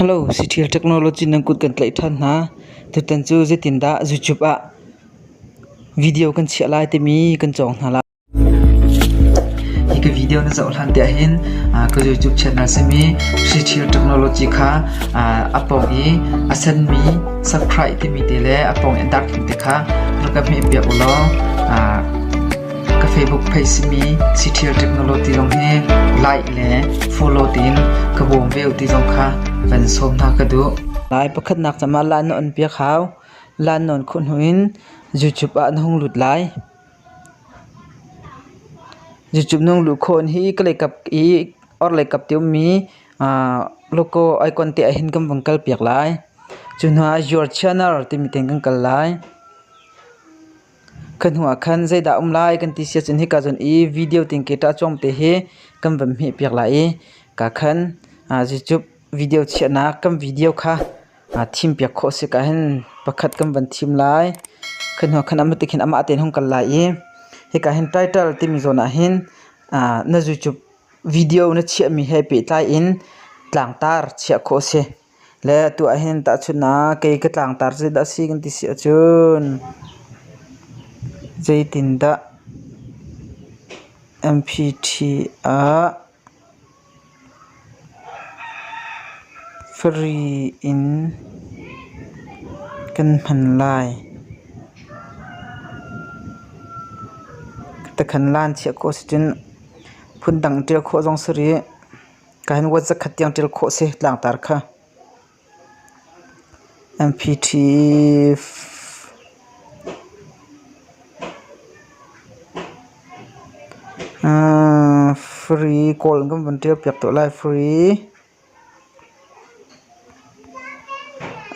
Halo Citial Technology nan kut kan tlaih ṭhan hna. Tutan cu zeitindah YouTube ah video kan chiah lai timi kan cawng hna lai. Hi ka video na zoh hlan tiah hin ka YouTube channel simi Citial Technology kha a pawng i a senmi subscribe timi te le a pawng i a darkhim te kha rak ka hmeh piak u law ka Facebook page simi Citial Technology zong hi like le follow tiin ka bawm ve ti zong kha van sawm hna ka duh. Lai pakhatnak cama lan na on piak hau lan non khu hnu in YouTube ah na hung lut lai. YouTube nung lu khon hi ka leikap i or leikap tium mi logo icon te ahin kam vang kal piak lai. Cu hna your channel timi ten kan kal lai. Kha hnuah khan zeidah a um lai kan ti siahcun hika cun i video tingke ṭah cuang te hi kan van hmeh piak lai i kaa khan zeicuk video chiahnak kan video kha thim piak khawh a si ka hin pakhat kan van thim lai. Kha hnuah khan amah tikhin amah tein hung kal lai i hika hin title timi zawn ahhin na zuicup video na chiahmi he pehtlai in tlangtar chiah khawh a si. Le atu ahhin tahchunhnak kei ka tlangtar cu dah a si kan ti si ahcun zeitindah MPT ah free in kan hman lai? Takhan lan chiah khawh si cun phundang ṭial khawh zong si rih. Kan word zakhat tiang ṭial khawh a si. Tlangtar kha MP3 uh, free kawl kan van ṭial piak tuah lai free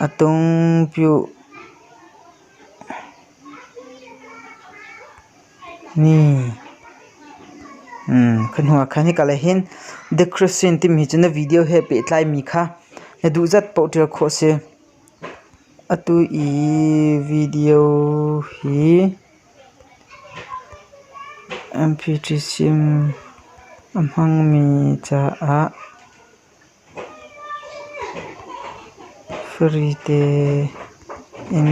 atung pyu Kha hnu ah khan hika lei hin The Christian timi cu na video he pehtlaimi kha na duhzat paoh ṭial khawh a si. Atu i video hi MP3 sim a hmangmi caah Frite in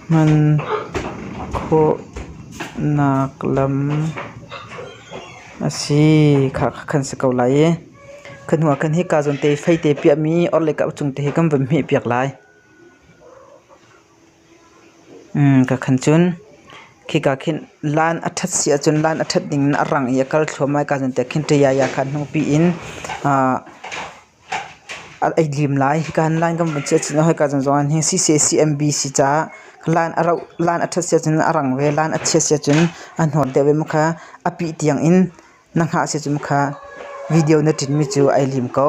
hman khawhnak lam a si. Kha kan si ko lai i kha hnu ah khan hika zawn te i fei te piahmi orhlei kap cung te hi kan van hmehpiak lai. Ka khan cun khika khin laan a ṭhat si ahcun laan a ṭhat ding in a rang i a kal thluahmah i kaa cawnpiak khin ṭayaya kha hnungpi in a ei lim lai. Hika hin laan kan vun chiah cun hoi ka chan zong ah hin CCCMBC caah laan a rauh, laan a ṭhat si ahcun a rang ve, laan a chia si ahcun a hnawr deuh ve mu kha a pih tiang in na hngah si ahcun kha video na ṭinmi cu ai lim ko.